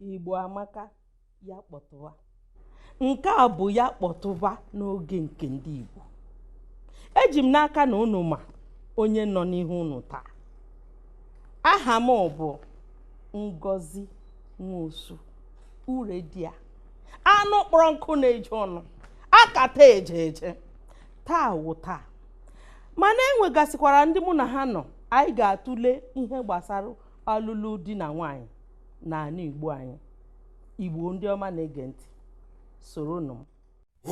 igbo amaka ya kpọtụwa nke a bụ ya kpọtụwa n'oge nke ndị igbo eji m n'aka na unu ma onye nọ n'ihu unu taa aha m bụ ngozi nwosu ure di ya anụ kpọrọ nkụ na-eju ọnụ akata eje eje taa wụ taa mana enwegasịkwara ndị mụ na ha nọ anyị ga-atụle ihe gbasara ọlụlụ di na nwaanyị n'ala Igbo anyị Igbo ndị ọma na-ege ntị soronụ m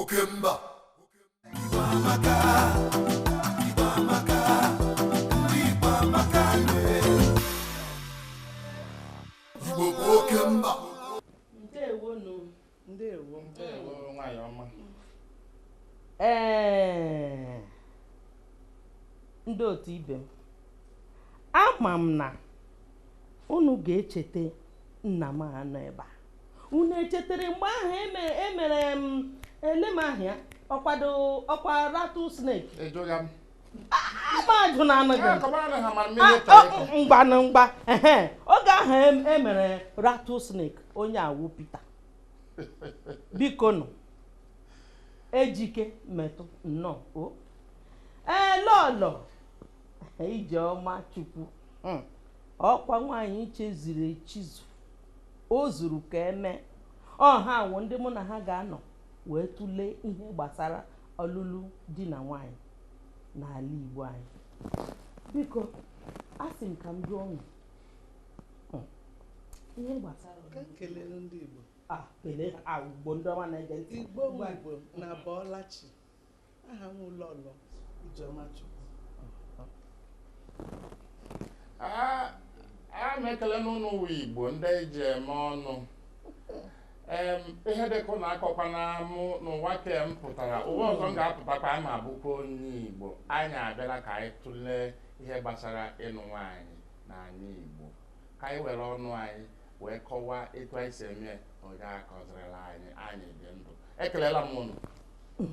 oke mba Igbo amaka Igbo amaka ndị Igbo amaka Igbo bụ oke mba ndewo ndewo nwanyị ọma ee ndị otu ibe m ama m na unu ga-echeta nna m a nọ ebe a unu echetere mgbe ahụ emere em elem ahịa ọkwado ọkwa rattlesnake ejoga m mmadụ na-anaghị mgba na mgba oge ahụ emere e rattlesnake onye a wụ Peter biko nụ ejike metu nnọọ o ee lọlọ ijeọma chukwu hmm. ọkwa nwaanyị chiziri echizu o zuru ka e mee o ha wụ ndị mụ na ha ga-anọ wee tụlee ihe gbasara ọlụlụ di na nwaanyị n'ala Igbo anyị biko a sị m ka m jụọ unu hmm, ihe gbasara ka m kelee ndị Igbo ah, kelee ha ah, Igbo ndị ọma na-ege ntị Igbo Igbo unu abọọla chi aha m wụ lọlọ Ijeọma Chukwu a m ekele unu ụmụ Igbo ndị e ji eme ọnụ ihe dịka unu akọkwana m n'ụwa ke m pụtara ụwa ọzọ m ga-apụtakwa ama abụkwa onye Igbo anyị abịala ka anyị tụlee ihe gbasara ịnụ nwaanyị n'anị Igbo ka anyị were ọnụ anyị wee kọwaa etu anyị si eme onye akọzirila anyị anyị dị ndụ ekelela m unu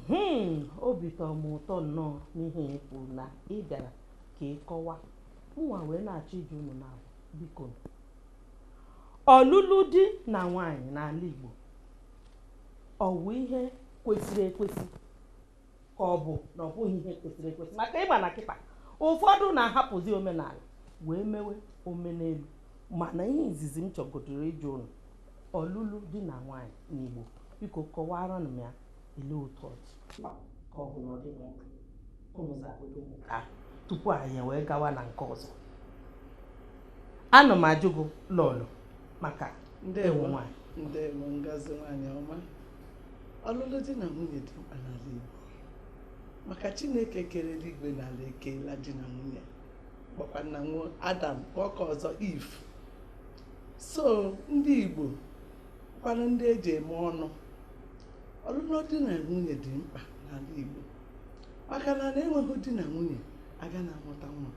Hmm, obi tọrọ m ụtọ nnọọ n'ihe ị kwuru na ị bịara ka ị kọwa mụnwa wee na-achọ ịjụ unu na biko ọlụlụ di na nwaanyị n'ala Igbo ọ bụ ihe kwesịrị ekwesị ka ọ bụ na ọ bụghị ihe kwesịrị ekwesị maka ị ma na kịta ụfọdụ na-ahapụzi omenala wee mewe omenelu mana ihe izizi m chọgodoro ịjụ unu Ọlụlụ di na nwaanyị n'Igbo, biko kọwara m ya ele otu ọ dị ka ọ bụ na ọ dịghị mkpa unu zagodo m nke a tupu anyị wee gawa na nke ọzọ ana m ajụ gị Lọlọ maka ị wụ nwaanyị ndewo ngozi nwaanyị ọma ọlụlụ di na nwunye dị mkpa n'ala Igbo maka Chineke kere eluigwe na ala ekeela di na nwunye kpọkwa nna nwa Adam kpọọ nke ọzọ Iv so ndị Igbo kwanụ ndị eji eme ọnụ ọlụlụ di na nwunye dị mkpa n'ala Igbo maka na na enweghị di na nwunye aga na-amụta nwa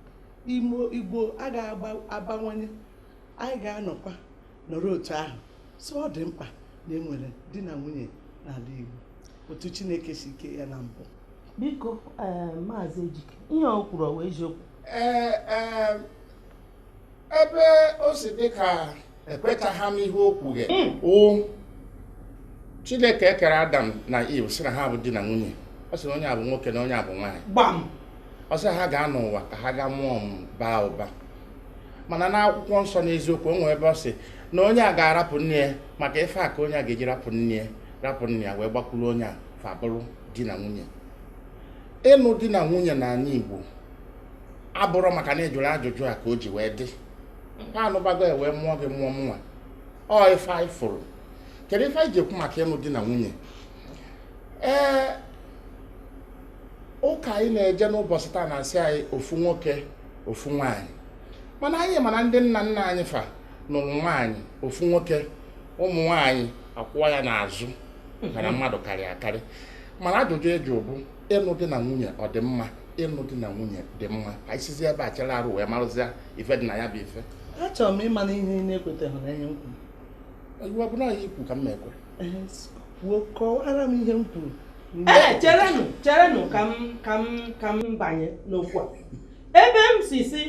ụmụ Igbo agaghị abawanye anyị ga-anọkwa nọrọ otu ahụ so ọ dị mkpa na enwere di na nwunye n'ala Igbo otu Chineke si kee ya na mbụ biko eh, maazị Ejike ihe o kwuru ọ wụ eziokwu ee eh, eh, ebe o si dị ka ekwechaghị m ihe o kwughe hmm. Chineke kere adam na iv sị na ha bụ di na nwunye ọ sị na onye a bụ nwoke na onye a bụ nwaanyị ọ sị ha gaa n'ụwa ka ha gaa mụọ ụmụ baa ụba mana n'akwụkwọ nsọ n'eziokwu o nwere ebe ọ sị na onye a ga-arapụ nne ya maka ife a ka onye a ga-eji rapụ nne ya rapụ nne ya wee gbakwuru onye a fa bụrụ di na nwunye ịnụ di na nwunye n'ala Igbo abụrọ maka na ị jụrụ ajụjụ a ka o ji wee dị ha anụbago ya wee mụọ gị mụọ mụnwa ọ ife anyị fụrụ kedu ife anyị ji ekwu maka ịnụ di na nwunye ee ụka anyị na-eje n'ụbọchị taa na-asị anyị ofu nwoke ofu nwaanyị mana anyị ma na ndị nna nna anyị fa nụrụ nwaanyị ofu nwoke ụmụ nwaanyị akwụwa ya n'azụ ka na mmadụ karịa akarị mana ajụjụ eji bụ ịnụ di na nwunye ọ dị mma ịnụ di na nwunye dị mma ka anyị sizie ebe a chere arụ wee marụzie ife dị na ya bụ ife achọrọ m ịma na ihe ị na-ekweteghị na ihe m kwuru ọ bụ na ihe i kwu ka m na-ekwe kwuo kọwara m ihe m kwuru ee cherenụ cherenụ ka m ka m ka m banye n'okwu a ebe m si sị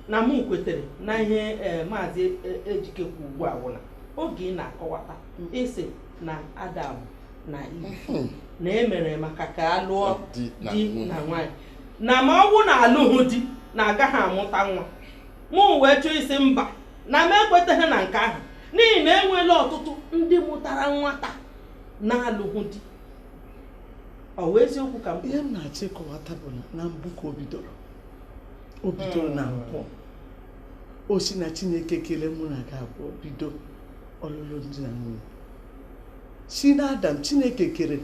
na m kwetere na ihe eh, maazị eh, ejike kwu ugbu a wụ na oge ị na-akọwata ị sị na adam na iv hmm. na emere maka ka a lụọ di na nwaanyị na ma ọ bụ na alụghị di na agaghị amụta nwa mụ wee chọọ ịsị mba na m ekwetaghị na nke ahụ n'ihi na enweela ọtụtụ ndị mụtara nwata na-alụghị di ọ wụ eziokwu ka ihe m na-achọ ịkọwata bụ na mbụ ka o bidoro o bidoro na hmm. mbụ o si na chineke kelee mụ na gị abụọ bido ọlụlụ di na nwunye si na adam chineke kere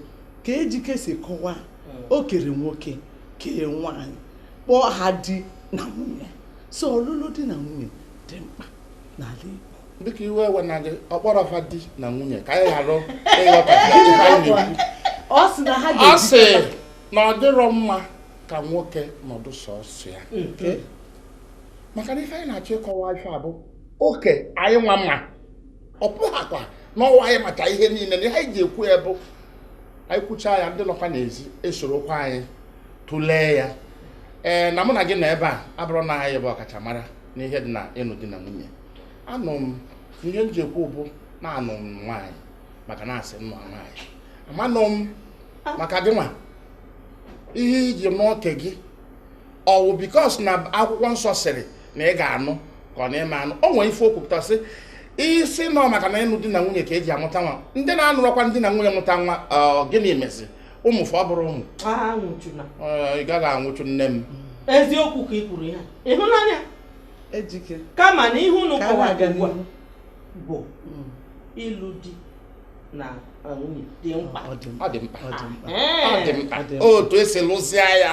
ka ejike si kọwaa hmm. o kere nwoke kee nwaanyị kpọọ ha di na nwunye so ọlụlụ di na nwunye dị mkpa n'ala Igbo dịka iwe ewena gị ọ kpọrọ fa di na nwunye ka anyị ghara ịghọta ọ sị na ha ga-eji ọ sị na ọ dịrọ mma ka nwoke nọdụ sọsọ ya maka na ife anyị na-achọ ịkọwa ife a bụ oke anyị nwa mma ọ bụghakwa na ọ wụ anyị macha ihe niile na ihe anyị ji ekwu ya bụ anyị kwucha ya ndị nọkwa n'ezi esorokwa anyị tụlee ya ee na mụ na gị nọ ebe a abụrọ na anyị bụ ọkachamara n'ihe dị na ịnụ di na nwunye anụ m ihe m ji ekwu bụ na anụ m nwaanyị maka na a sị nụa nwaanyị amanụ m maka gị nwa ihe i ji nụọ nke gị ọ wụ because na akwụkwọ nsọ sịrị na ị ga-anụ ka ọ na-eme anụ o nwere ife o kwupụta sị i si nụọ maka na ịnụ di na nwunye ka e ji amụta nwa ndị na-anụrọkwa di na nwunye mụta nwa gịnị mezi ụmụ fa ọ bụrọ ụmụ ị gaghị anwụchu nne m eziokwu ka ị kwuru ya ịhụnanya ejike kama na ihe unu kọwara ugbu a bụ mm. ịlụ di na nwunye dị mkpa ọ dị mkpa otu esi lụzie ya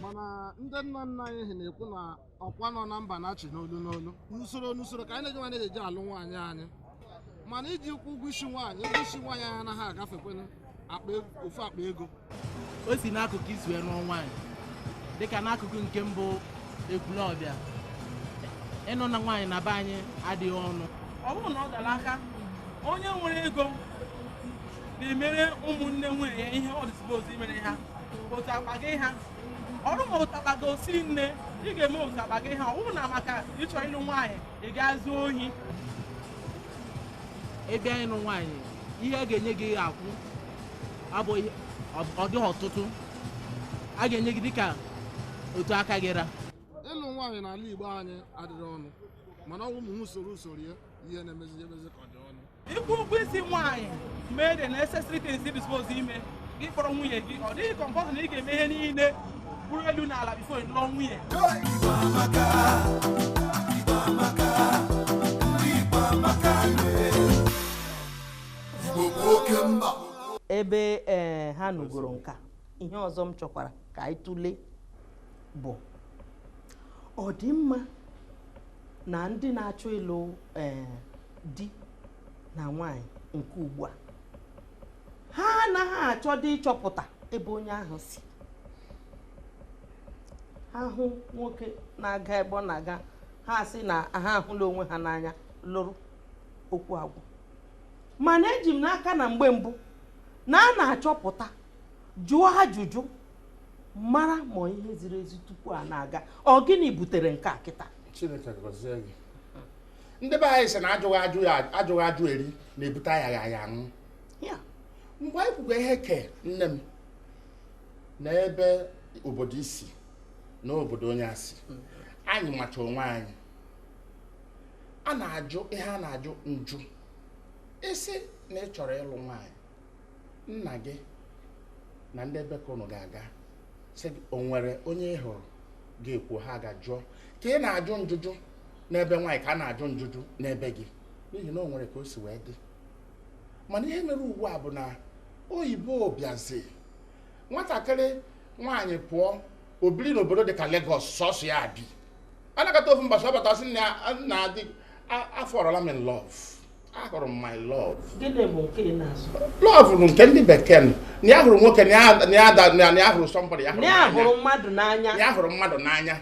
mana ndị nna nna anyị ha na-ekwu na ọkwa nọ na mba na-achị n'olu n'olu n'usoro n'usoro ka anyị na-eji nwaanyị eji alụ nwaanyị anyị mana iji kwụ ụgwọ isi nwaanyị ụgwọ isi nwaanyị anyị anaghị agafekwanụ ofu akpa ego o si n'akụkụ i si wee nụọ nwaanyị dịka n'akụkụ nke m bụ ekwulọbịa ịnụ na nwaanyị na be anyị adịghị ọnụ ọ bụrụ na ọ gara aka onye nwere ego na-emere ụmụnne nwunye ya ihe ọ dị suppose imere ha otu akpa gị ha ọrụ ma otu akpa gị osi nne ị ga-eme otu akpa gị ha ọ bụrọ na maka ị chọ ịlụ nwaanyị ị gaa zuo ohi ị bịa ịnụ nwaanyị ihe a ga-enye gị ga-akwụ abụghị ọ dịghị ọtụtụ a ga-enye gị dịka otu aka gị ra ịlụ nwaanyị n'ala Igbo anyị adịghị ọnụ mana ọ wụ ụmụ usoro usoro ya ihe na-emezi emezi ka ọ dị ọnụ ịkwụ ụgwọ isi nwaanyị mee the necessary things dị suppose ime gị kpọrọ nwunye gị ọ dịghị compulsory na ị ga-eme ihe niile bụrụ elu na ala before ị lụọ nwunye ebe ee ha nụgoro nke a ihe ọzọ m chọkwara ka anyị tụlee bụ ọ dị mma na ndị na-achọ ịlụ ee di na nwaanyị nke ugbu a ha anaghị achọdị ịchọpụta ebe onye ahụ si ha hụ nwoke na-aga ebe ọ na-aga ha sị na ha ahụla onwe ha n'anya lụrụ okwu agwụ mana eji m n'aka na mgbe mbụ na a na-achọpụta jụọ ajụjụ mara ma ihe ziri ezi tupu a na-aga ọ gịnị butere nke a kịta ndị be anyị sị na ajụghị ajụ ya ajụghị ajụ eri na-ebute ayaghị aya anwụ Ya, mgbe anyị kwugo ihe ke nne m na ebe obodo i si na obodo onye a si anyị macha onwe anyị a na-ajụ ihe a na-ajụ njụ ị sị na ị chọrọ ịlụ nwaanyị nna gị na ndị ebe ka ụnụ ga-aga sị gị o nwere onye ị hụrụ ga-ekwu ha gaa jụọ ka ị na-ajụ njụjụ n'ebe nwaanyị ka a na-ajụ njụjụ n'ebe gị n'ihi na o nwere ka o si wee dị mana ihe mere ugbu a bụ na oyibo bịazi nwatakịrị nwaanyị pụọ o biri n'obodo dị ka Lagos sọsọ ya bi a nọkata ofu mbọchị ọ bata sị nna ya daddy afọrọla m in love ahụrụ m my love gịnị bụ nke ị na-azụ love bụ nke ndị bekee nụ na ya hụrụ nwoke na ya- na ya da- na ya hụrụ somebody ya hụrụ na ya n'anya. hụrụ mmadụ n'anya ya hụrụ mmadụ n'anya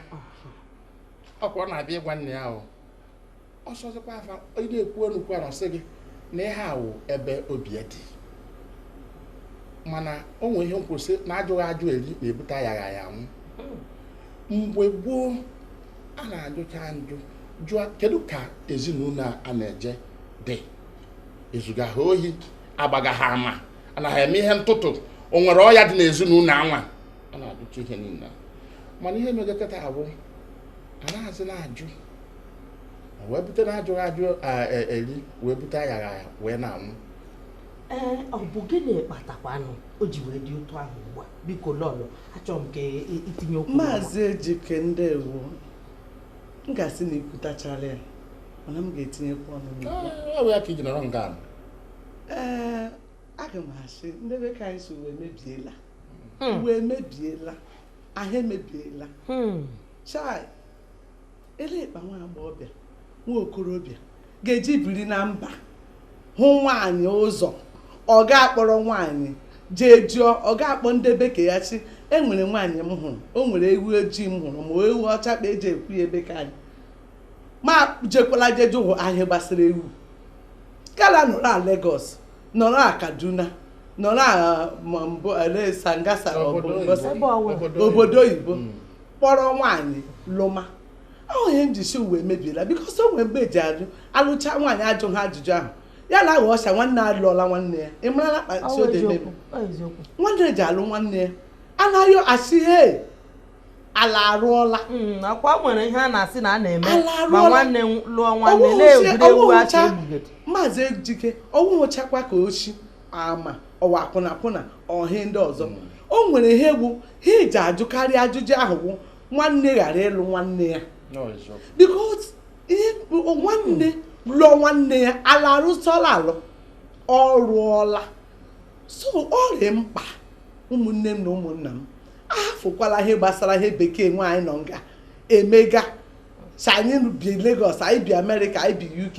ọ kwa ọ na-abịa ịgwa nne ya ahụ ọ sọzikwa afa ị na-ekwu ọnụ kwara ọ sị gị na ihe a wụ ebe obi ya dị mana o nwere ihe m kwu sị na ajụghị ajụ eri na-ebute ayaghị aya anwụ mgbe gboo a na-ajụcha njụ jụọ kedu ka ezinụlọ a na-eje dị ezuga ha ohi agbaga ha ama ana ha eme ihe ntụtụ o nwere ọya dị n'ezinụlọ anwa a na-ajụcha ihe niile mana ihe mega kịta a bụ anaghịzi na-ajụ wee bute na ajụghị ajụ e, eri wee bute ayaghị wee na-anwụ ee ọ bụ gịnị kpatakwanụ o ji wee dị otu ahụ ugbu a biko lọlọ achọrọ m ka i tinye okwu maazị ejike ndewo m ga-asị na i kwutachala ya mana m ga-etinyekwa ọnụ ọ bụ ya ka i ji nọrọ nga ee aga m asị ndị be ka anyị sị ụwa emebiela hmm. ụwa emebiela ahụ emebiela hmm. chai elee kpa nwa agbọghọbịa nwa okorobịa ga-eji biri na mba hụ nwaanyị ụzọ ọ ga-akpọrọ nwaanyị jee jụọ ọ ga-akpọ ndị be ke ya shị e nwere nwaanyị m hụrụ o nwere ewu ojii m hụrụ ma ewu ọcha kpa e ji ekwu ya ebe ka anyị ma jekwala jee jụọ ihe gbasara ewu kala nọrọ a Lagos nọrọ a Kaduna nọrọ a Sangasa obodo oyibo hmm. kpọrọ nwaanyị lụma ọ wụ ihe m ji si ụwa emebiela because o nwere mgbe eji ajụ alụcha nwaanyị ajụ ha ajụjụ ahụ ya na aghọ ọcha nwanne alụọla nwanne ya ị marala kpati ode meme nwanne ji alụ nwanne ya anaghị asị he ala arụọla hmm, ọkwa e nwere ihe a na-asị na a na-eme ma nwanne lụọ nwanne na-egwuregwu acha maazị ejike ọ wụhụchakwa ka oshi ma ọ wụ akwụna akwụna ọ ihe ndị ọzọ mm. o nwere ihe bụ ihe eji ajụkarị ajụjụ ahụ bụ nwanne ghara ịlụ nwanne ya because nwanne lụọ nwanne ya ala arụsọla alụ ọ rụọla so ọ dị mkpa ụmụnne m na ụmụnna m ahafụkwala ihe gbasara ihe bekee nwa anyị nọ nga emega si anyị bi Lagos anyị bi Amerịka anyị bi UK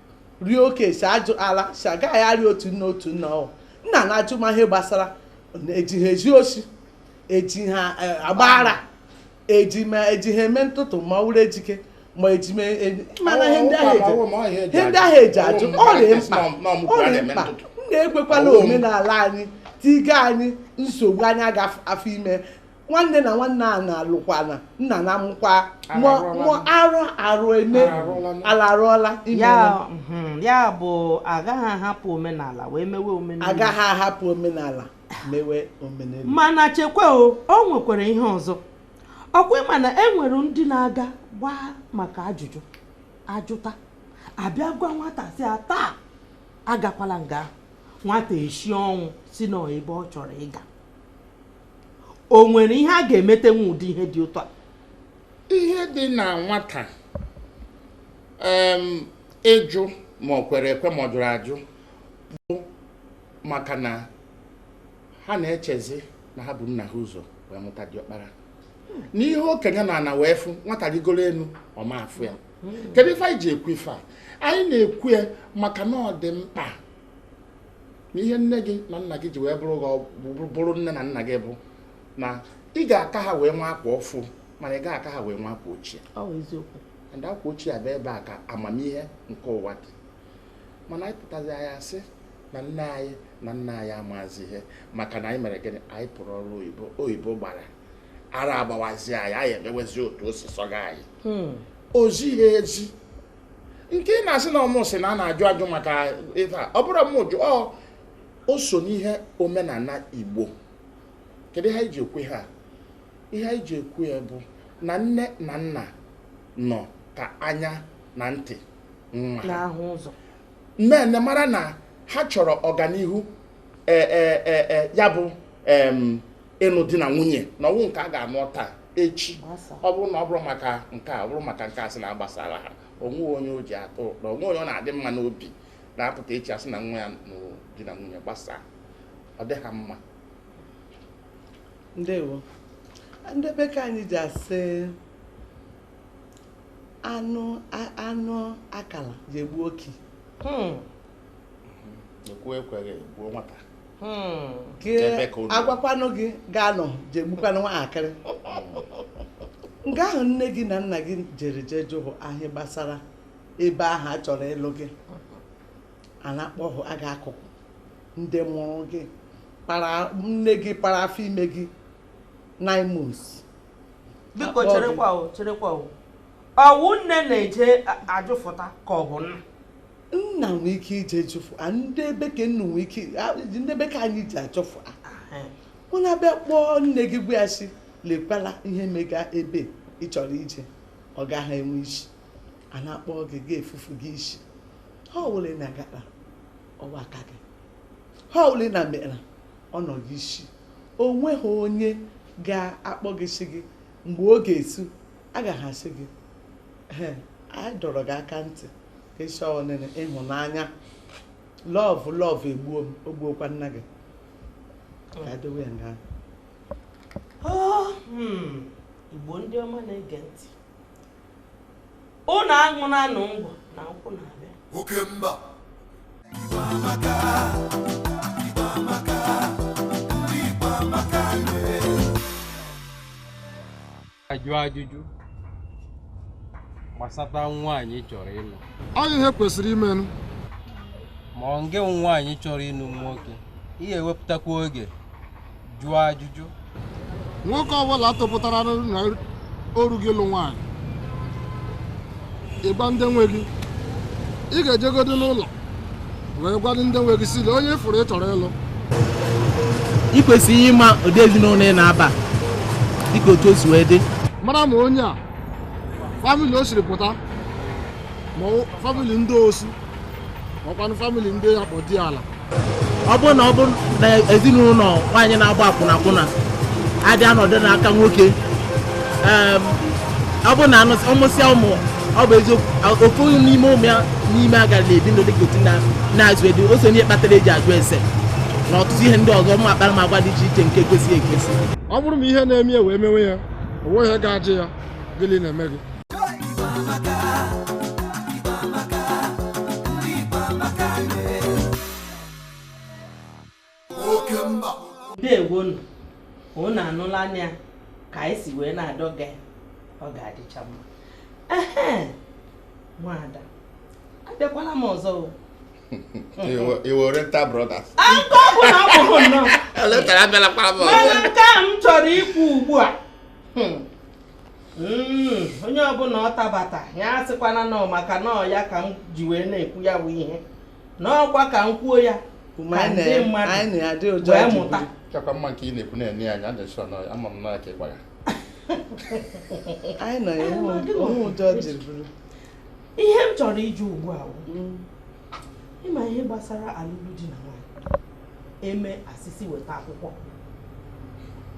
rie oke si ajụ ala si agaghị arị otu nne otu nna ọ nna na-ajụ ma ihe gbasara eji ha ezi osi eji ha e, agba ara eji ma eji ha eme ntụtụ ma ọ wụrụ ejike ma eji ma e, mana ihe ndị ahụ eji ihe ndị ahụ eji ajụ ọ dị mkpa ọ dị mkpa nna ekwekwala omenala anyị tiga anyị nsogbu anyị aga afọ ime nwanne na nwanne a na-alụkwana nna na amụkwa mụọ arụ arụ eme ala arụọla mhm, ya bụ agaghị ahapụ omenala wee mewe omenelu agaghị ahapụ omenala mewe omenelu mana chekwa o o nwekwara ihe ọzọ ọkwa ịma na e nwere ndị na-aga gbaa maka ajụjụ ajụta abịa gwa nwata si a taa agakwala nga nwata eshi ọnwụ si na ọ ebe ọ chọrọ ịga o nwere ihe a ga-emeta n'ụdị ihe dị otu a ihe dị na nwata ịjụ ma ọ kwere ekwe ma ọ jụrụ ajụ bụ maka na ha na-echezi na ha bu nna ha ụzọ wee mụta diọkpara na ihe okenye nọ ana wee fụ nwata rigoro enu ọ ma afụ ya kedu ife anyị ji ekwu ife a anyị na-ekwu ya maka na ọ dị mkpa na ihe nne gị na nna gị ji wee bụrụ gị ọgwụ- bụrụ nne na nna gị bụ na ị ga-aka ha wee nwee akwa ọfụ mana ị gaghị aka ha wee nwee akwa ochie ọ bụ eziokwu and akwa ochie a bụ ebe a ka amamihe nke ụwa dị mana anyị pụtazi anyị asị na nne anyị na nna anyị amazi ihe maka na anyị mere gịnị anyị pụrụ ọrụ oyibo oyibo gbara ara agbawazi anyị anyị emewezi otu o si sọga anyị Hmm. o zighi ezi nke ị na-asị na ọ mụ sị na a na-ajụ ajụ maka ife a ọ bụrụ m jụ ọ o so n'ihe omenala igbo kedu ihe anyị ji ekwu ihe a ihe anyị ji ekwu ya bụ na nne na nna nọ ka anya na ntị nwa ha na-ahụ ụzọ nne mara na ha chọrọ ọganihu e, e, e, e, ya bụ em, ịnụ di na nwunye na ọ bụ nke a ga-anụ taa echi ọ bụrụ na ọ bụrụ maka nke a ọ bụrụ maka nke a sị na agbasara ha o nweghị onye o ji atọ ụtọ o nweghị onye ọ na-adị mma n'obi na-apụta echi a sị na nwa ya nụrụ di na nwunye gbasaa ọ dị ha mma ndewo ndị be ke anyị ji asị anụ anụ akala ji egbu okii hmm. ekwuo ekweghị egbuo nwata hmm, agwakwanụ gị gị anụ ji egbukwanụ nwaakịrị nga ahụ nne gị na nna gị jere jee jụụ ahịa gbasara ebe ahụ a chọrọ ịlụ gị a na-akpọhụ aga akụkụ ndị mụrụ gị nne gị para afọ ime gị nine months biko cherekwa cherekwa ọ wụ nne na-eje ajụfụta ka ọ bụ nna nna nwee ike ije jụfụ a ndị be ke unu nwee ike a- ndị be ke anyị ije jụfụ unu abịa kpọọ nne gị gwa ya sị lekwala ihe mega ebe ị chọrọ ije ọ gaghị enwe isi a na-akpọ gị gị efufu gị isi ihe ọwụla ị na-agara ọ wụ aka gị ihe ọwụla ị na mera ọ nọ gị isi o nweghị onye ga-akpọ gị sị gị mgbe ọ ga-esu agaghị asị gị anyị dọrọ gị aka ntị ị sị ọ naanị ịhụnanya lọvụ lọvụ egbuo m o gbuokwa nna gị ka edowe ya nga ahụ, hmm. Igbo ndị ọma na-ege ntị unu aṅụnanụ ngwọ na nkwụ na-abịa oke mba Igbo amaka Igbo amaka ajụ ajụjụ gbasata nwaanyị ị chọrọ ịlụ ọ ihe kwesịrị imenụ ma ọ nge nwaanyị chọrọ ịlụ nwoke ị ga-ewepụtakwa oge jụọ ajụjụ nwoke ọbụla tụpụtara na o rugo ịlụ nwaanyị ị gwa ndị nwe gị ị ga-ejegodu n'ụlọ wee gwadụ ndị nwe gị sị lee onye ị fụrụ ị chọrọ ịlụ ị kwesịrị ịma ụdị ezinụlọ ị na-aba dịka otu o si wee dị mara ma onye a famili o siri pụta ma ọ- famili ndị osu makwanụ famili ndị a kpọ diala ọ bụrụ na ọ bụrụ na ezinụlọ nwaanyị na-agba akwụna akwụna adị anọdụ n'aka nwoke em, ọ bụrụ na anụsị- ọ mụsịa ụmụ ọ bụ eziokwu ofu n'ime ụmụ ya n'ime agara na-ebi ndụ dịka otu na-azụ edu o so n'ihe kpatara eji ajụ ese na ọtụtụ ihe ndị ọzọ ụmụ akparamagwa dị iche iche nke kwesịghị ekwesị ọ bụrụ ma ihe na-eme ya wee mewe ya o nweghị ihe ga-ajụ ya gịnị na-eme gị oke mba ndewonu unu anụlanụ ya ka anyị si wee na-adọga ya ọ ga-adịcha mma ehe nwada abịakwala m ọzọ o oriental brothers nke ọ bụla ọ bụrụ nnọọ eletara abịala kpara m mana ọzọ nke a m chọrọ ikwu ugbu a hmm, mm, onye ọbụla ọ dabata ya asịkwana na ọ maka na ọ ya ka m ji wee na-ekwu ya bụ ihe na ọkwa ka m kwuo ya ka ndị mmadụ wee mụta chakwa mma nke ị na-ekwu na-enye anyị adịchọ na ama m na ka ị gwa ya anyị nọ ya onwe ụjọ jiri bụrụ ihe m chọrọ ịjụ ugbu a mm. ịma ihe gbasara alụmdi na e mee a sị sị weta akwụkwọ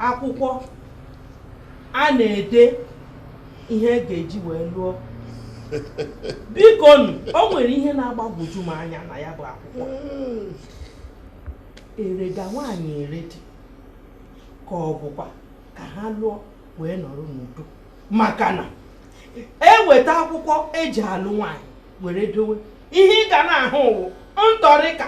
akwụkwọ a na-ede ihe e ga-eji wee lụọ bikonụ o nwere ihe na-agbagwoju m anya na ya bụ akwụkwọ erega nwaanyị ere di ka ọ bụkwa ka ha lụọ wee nọrọ n'udo maka na eweta akwụkwọ eji alụ nwaanyị were dowe ihe ị ga na-ahụ wụ ntọrịka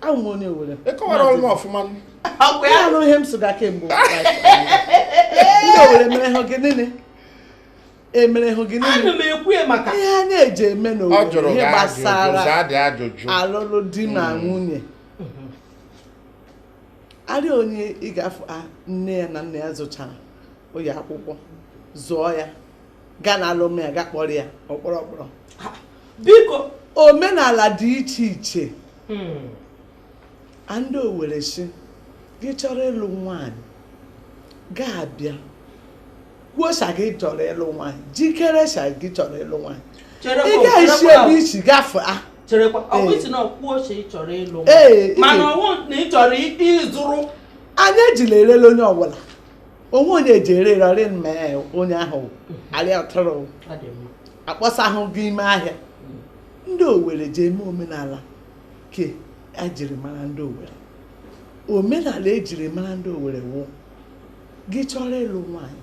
awụ m onye owere ịkọwara ọrụ m ọfụma ọkwa ya nụ ihe m sụga kemgbe ndị owere mere ha gị niile emere hụ gị niile ana m ekwu ya maka ihe a na-eji eme n'owere jụrụ ihe gị ajụjụ gbasara zaa dị ajụjụ alụlụ di na nwunye arị onye ị ga-afụ a nne ya na nna ya zụchara ụlọ akwụkwọ zụọ ya gaa na alụm ya ga kpọrọ ya ọkpọrọ ọkpọrọ biko omenala dị iche iche hmm. ndị owere sị gị chọrọ ịlụ nwaanyị ga-abịa kwuosa gị chọrọ ịlụ nwaanyị jikeresa gị chọrọ ịlụ nwaanyị ị ga-esi ebe isi gafee ah. cherekwa ọkwa ị sị na ọkwuo oche ị chọrọ ịlụ mana ọ wụ na ị chọrọ ịzụrụ anyị ejila erele onye ọbụla onwe onye eji ere rị ma onye ahụ arịa atụrụ akpọsa ahụ gị ime ahịa ndị owere ji eme omenala ke ejiri mara ndị owere omenala ejiri mara ndị owere wụ gị chọrọ ịlụ nwaanyị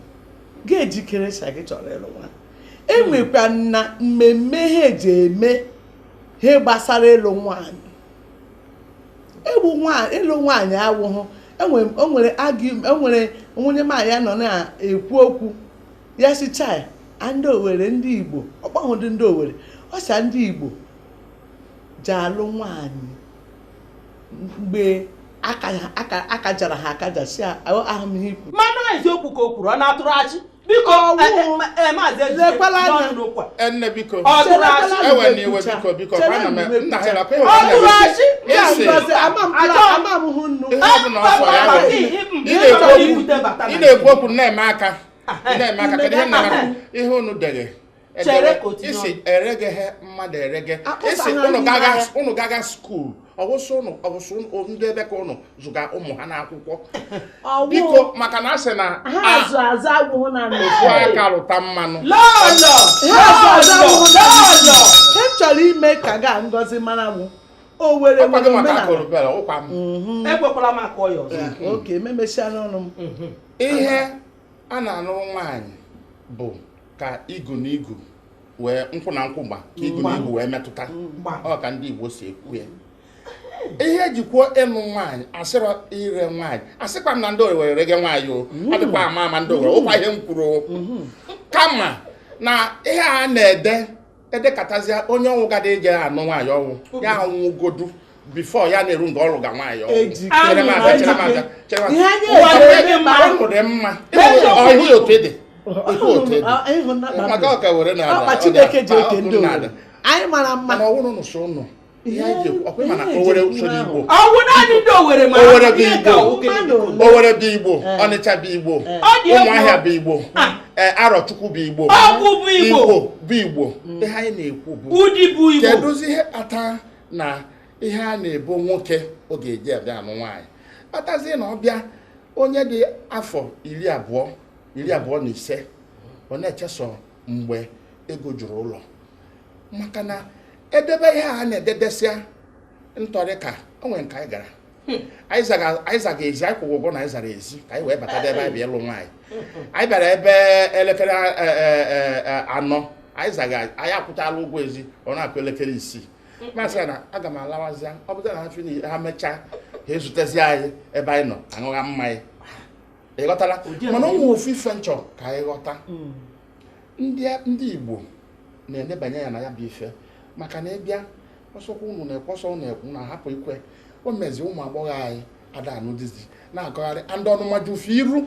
gị ejikeresa gị chọrọ ịlụ nwaanyị enwekwa na mmemme ha eji eme ha gbasara ịlụ nwaanyị egbu ịlụ nwaanyị awụhụ enwere enwere nwunye nwaanyị ya nọ na-ekwu okwu ya sị chai ndị owere ndị igbo ọ kpọhụdị ndị owere ọ sị ndị igbo ji alụ nwaanyị mgbe akajara ha akaja si ahụ m ihe ikwu mana eziokwu ka o kwuru ọ na-atụrụ asị biko lekwala anya nne biko ewena iwe biko biko ana m nna ha nakwa ị na-ekwu okwu na-eme aka na-eme aka kedu ihe na-eme ihe unu dere chere ka otinye isi eregeghe mmadụ erege ị sị ụnụ gaga skuul ọ wụ sọ ụnụ ọ wụ sọ ndị ebe ka ụnụ zụga ụmụ ha n'akwụkwọ biko maka na a sị na ofu aka rụta mmanụ m chọrọ ime ka ga ngozi mara mụ owere nwere omenala ekwekwala maka ọya ọzọ oke memesiala ọnụ m ihe a na-anụrụ nwaanyị bụ ka igu na igu wee nkwụ na nkwụ gba ka igu na igu wee metụta ọ ka ndị Igbo si ekwu ya ihe e ji kwuo ịnụ nwaanyị a sịrọ ire nwaanyị asịkwa m na ndị owere rege nwaanyị o mm. adịkwa ama ama ndị owere nụkwa ihe m kwuru mm-hmm. kama na ihe a na-ede edekatazie onye ọnwụ gada eje anụ nwaanyị ọnwụ ya anwụgodu before ya na-eru nga ọ lụga nwaanyị ọnwụ chere m abịa chere m abịa chere m abịa ọnụ dị mma ọhụ ya otu ede otu otu ede maka ọka were na ala ọ ga-akpa ọkụ na ala anyị mara mma mana ọ wụrọ nụ sọ ụnụ ihe anyị ji ekwu ọ kwa ị ma na owere so n'igbo ọ wụ naanị ndị owere ma owere bụ igbo owere bụ igbo eh. ọnịcha bụ igbo eh. ụmụahịa bụ igbo ah. eh, arọchukwu bụ igbo ọgwụ bụ igbo bụ igbo mm. ihe anyị na-ekwu bụ udi bụ igbo kedụzi ihe kpata na ihe a na-ebo nwoke ọ ga-eji abịa anụ nwaanyị kpatazie na ọ bịa onye dị afọ iri abụọ iri abụọ na ise ọ na-echesọ mgbe ego juru ụlọ maka na e debe ihe a na-ededesịa ntọrị ka o nwere nke anyị gara hmm. anyị zaga ezi anyị kwụọ ụgwọ na anyị zara ezi ka anyị wee bata ebe anyị bịa ịlụ nwaanyị anyị bịara ebe elekere e, e, e, anọ anyị zaga anyị akwụtala ụgwọ ezi ọ na-akụ elekere isii m asị ya na aga m alawazịa ọ bụta na achụ na ha mechaa ha ezutezi anyị ebe anyị nọ aṅụgha mmanya ị ghọtara mana e nwe ofu ife m chọ ka anyị ghọta hmm. ndị ndị Igbo na-enebanye anya na ya bụ ife maka na ị bịa ọ sọkwa unu na-ekwe ọ sọ unu ekwu na a hapụ ikwe o mezi ụmụ agbọghọ anyị ada anụ dizi na-agagharị and ọnụma ju fa iru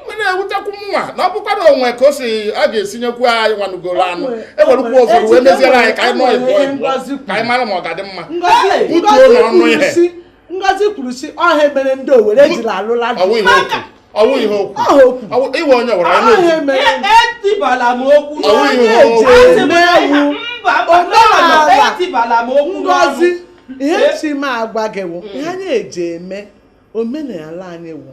wee na-ewutekwu mụwa na ọ bụkwa na o nwe ka o si a ga-esi nyekwu anyị nwa nụgoro anụ e werukwu ụfọdụ wee meziere anyị ka anyị nọ ịbụọ ịbụọ ka anyị mara ma ọ ga-adị mma butuo n'ọnụ ihe ngozi kwuru sị ọ ihe mere ndị owere ejila alụla ọ wụ ihe okwu iwe onye gwara ya n'otu etibala m okwu ọ wụ ihe okwu omenala ngozi ihe chi m agwa gị wụ ihe anyị eji eme omenala anyị wụ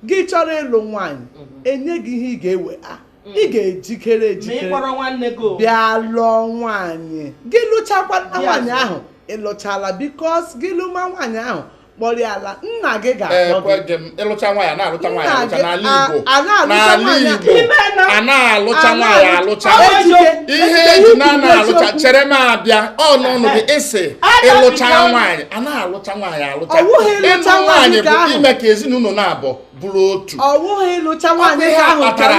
gị chọrọ ịlụ nwaanyị enye gị ihe ị ga-ewe a ị ga-ejikere jikere bịa lụọ nwaanyị gị lụchakwa nwaanyị ahụ ị lụchala because gị lụma nwaanyị ahụ kpọrọ ya ala nna gị ee ga-akpọ gị kweghị m ịlụcha nwaanyị a na-alụcha nwaanyị alụcha n'ala Igbo a na-alụcha nwaanyị alụcha ihe eji na-alụcha chere m abịa ọ n'ọnụ gị ịsị ịlụcha nwaanyị a na-alụcha nwaanyị alụcha ịlụ nwaanyị bụ ime ka ezinụlọ naabọ bụrụ otu ọwụghị ịlụcha nwaanyị ahụ kpatara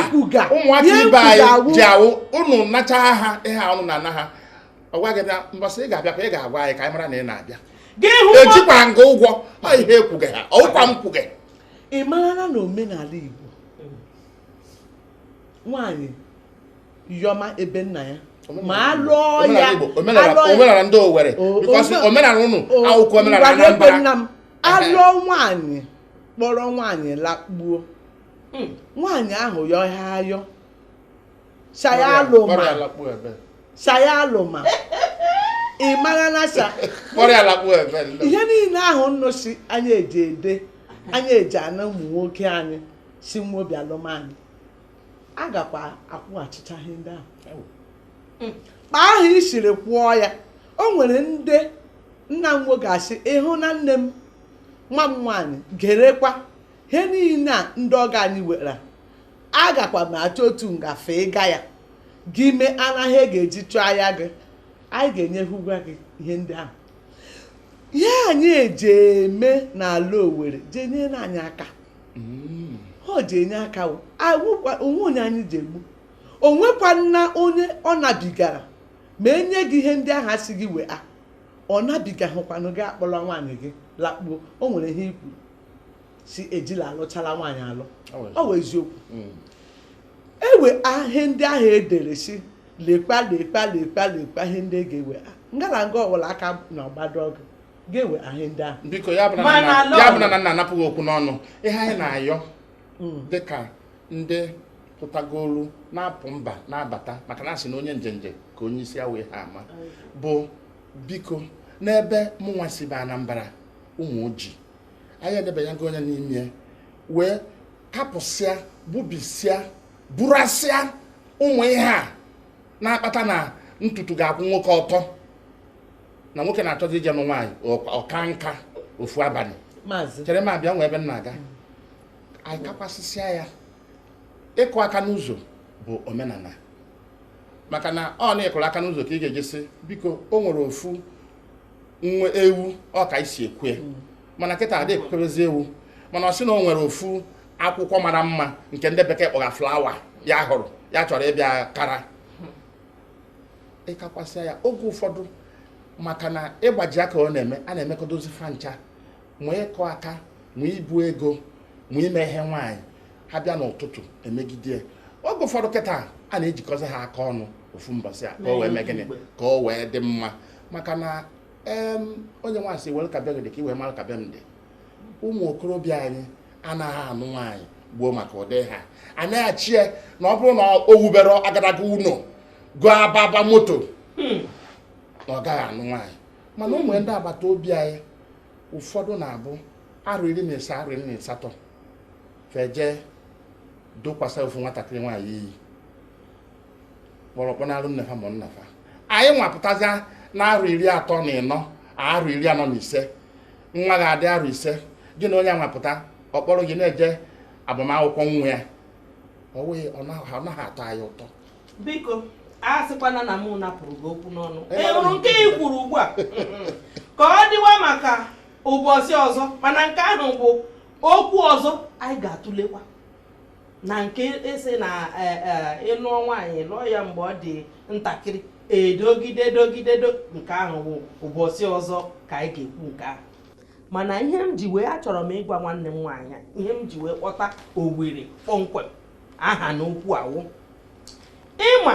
ụmụaka ibe anyị ji awụ ụnụ nacha ha ihe ụnụ na-ana ha agwa gị bịa mbọsị ị ga-abịakwa ị ga-agwa anyị ka anyị mara na ị na-abịa ejikwa nga ụgwọ ha ihe ekwughị ha ọwụkwa m kwughị ị marala na omenala Igbo nwaanyị yọma ebe nna ya ma alụọ ya omenala ndị Owerri because omenala ụnụ akwụkwọ omenala Anambra nna m alụọ nwaanyị kpọrọ nwaanyị lakpuo hmm. nwaanyị ahụ yọ ha ayọ sị ya alụma sị ya alụma ị mara na sa ihe niile ahụ ụnụ si anyị eji ede anyị eji ana ụmụ nwoke anyị si nwobi alụ nwaanyị a gakwa akwụghachicha ihe ndị ahụ hmm. kpa ahụ i siri kwụọ ya o nwere ndị nna m nwoke asị ịhụ na nne m nwa m nwaanyị gerekwa ihe niile a ndị ọga anyị were agakwa m achọ otu ngafe ịga ya gị mee anaghị e ga-eji chụọ ahịa gị anyị ga-enyehụkwa gị ihe ndị ahụ ihe anyị eji eme n'ala Owerri ji enyere anyị aka mm. o ji enye aka o nwee onye anyị ji egbu o nwekwanụ onye ọ nabigara ma enye gị ihe ndị ahụ asị gị wee a ọ nabigahụkwanụ gị akpọrọ nwaanyị gị lakpuo o nwere ihe i kwuru sị ejila alụchala nwaanyị alụ ọ wụ eziokwu mm. ewe ihe ndị ahụ edere sị lekwa lekwa lekwa lekwa ihe ndị e ga-ewe ngala nga ọwụla aka na ọgbado ọgụ ga-ewe ihe ndị ahụ biko ya bụ na nna anapụ gị okwu n'ọnụ ihe anyị na-ayọ dịka ndị pụtagolu na-apụ mba na-abata maka na asị na onye njenje ka onye isi awọ ihe ama bụ biko n'ebe mụnwa si bụ Anambra ụmụ ojii anyị edebanyago onye n'ime ya, wee kapụsịa gbubisịa burasịa ụmụ ihe a na-akpata na ntutu ga-akwụ nwoke ọtọ na nwoke na-achọzi ije nụ nwaanyị ọka nka ofu abalị chere m abịa nwe ebe m na-aga anyị kakwasịsịa ya ịkụ aka n'ụzọ bụ omenala maka na ọ na ị kụrụ aka n'ụzọ ka ị ga-eji sị biko o nwere ofu nwa ewu ọ ka e si ekwu mm. mana kịta a dị ekwukerezi ewu mana ọ sị na o nwere ofu akwụkwọ mara mma nke ndị bekee kpọga flower ya hụrụ ya chọrọ ịbịa kara ịkakwasịa ya oge ụfọdụ maka na ịgbaji aka ọ na-eme a na-emekọdozi fa ncha ma ịkụ aka ma ibu ego ma ime ihe nwaanyị a bịa n'ụtụtụ e megide oge ụfọdụ kịta a na-ejikọzi ha aka ọnụ ofu mbọsị a ka o wee mee gịnị ka o wee dị mma maka na onye nwa sị were ka be gị dị ka i wee mara ka be m dị ụmụ okorobịa anyị anaghị anụ nwaanyị gboo maka ụdị ha na-eche na ọ bụrụ na o wuberọ agadaga ụlọ goo ababa moto hmm. na ọ gaghị anụ nwaanyị mana ụmụ ndị agbata obi anyị ụfọdụ na-abụ arụ iri na ise arụ iri na asatọ feje dokwasa ofu nwatakịrị nwaanyị iyi kpọrọ kpọnara nne fa ma nna fa anyị nwa pụtazi n'arụ iri atọ na ịnọ arụ iri anọ na ise nwa ga-adị arụ ise gị na onye nwa pụta ọ kpọrọ gị na-eje agbamakwụkwọ nwa ya ọ naghị atọ anyị ụtọ biko a sịkwana na mụ napụrụ gị okwu n'ọnụ ị hụrụ nke ị kwuru ugbu a ka ọ dịwa maka ụbọchị ọzọ mana nke ahụ bụ okwu ọzọ anyị ga-atụlekwa na nke ị sị na e, e, ị lụọ nwaanyị lụọ ya mgbe ọ dị ntakịrị e dogide dogide nke ahụ bụ ụbọchị ọzọ ka anyị ga-ekwu nke ahụ mana ihe m ji wee achọrọ m ịgwa nwanne m nwaanyị ihe m ji wee kpọta Owere kpọmkwem aha n'okwu a wụ ị ma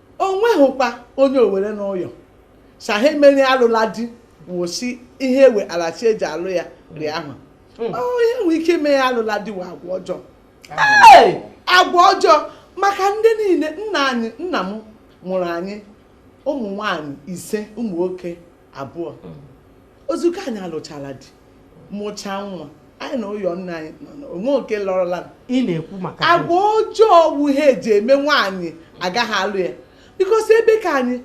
o nweghịkwa onye Owere nọ ụyọ sị ihe mere alụla di wụ sị ihe ewe alachi e ji alụ ya rị ahụ hmm. ihe nwee ike ime ya alụla di wụ agwa ọjọọ agwa ọjọọ maka ndị niile nna anyị nna m mụrụ anyị ụmụ nwanyị ise ụmụ nwoke abụọ hmm. ozugbo anyị alụchala di mụchaa nwa anyị na ụyọ nna anyị o nwe ke lọrọla ị na-ekwu maka agwa ọjọọ wụ ihe e ji eme nwaanyị agaghị alụ ya because ebe ke anyị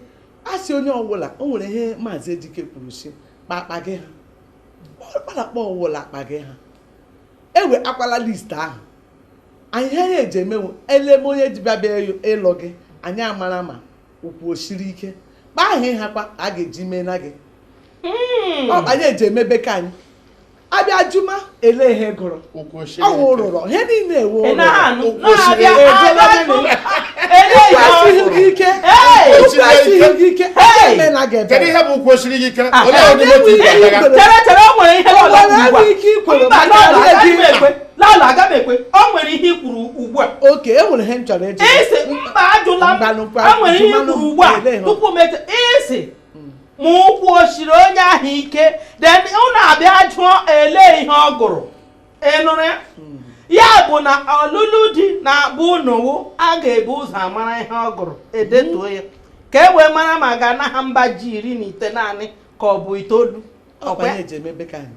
a sị onye ọ wụla o nwere ihe maazị Ejike kwuru sị kpakpa gị ha kpalakpa ọwụla akpa gị ha ewe akwala list ahụ anyị ihe e ji emenwu eleme onye ji bịa bịa ịlụ gị anyị amara ma ụkwụ o siri ike kpa ahụ ịha kwa a ga-eji mee na gị hmm. ọ anyị eji emebe ka anyị abịa jụma ele ihe ọ gụrụ ọwụ ụrụrọ ihe niile ewu ụrụrọ ụkwụ esighị ike ụkwụ esighị gị ike eme na gị ebe ihe bụ ụkwụ o siri gị ike ah, olee ọdịmọtụ ị ga-aga ike ikwere maka gị lala aga m ekwe ọ nwere ihe i kwuru ugbu a okay e nwere ihe m chọrọ ịjụ ị sị mba ajụla m Mbanụ, mba, a nwere ihe jụmanụ i kwuru ugbu a ele ha. tupu m eche ị sị ma ụkwụ o siri onye ahụ ike then unu abịa jụọ ele ihe ọ gụrụ ị nụrụ ya ya bụ na ọlụlụ di na-abụ ụnụwụ a ga-ebu ụzọ amara ihe ọ gụrụ edetuo ya ka e wee mara ma a ga-ana ha mba ji iri na itenaanị ka ọ bụ itoolu ọkwa ọkwa ya eji emebe ka anyị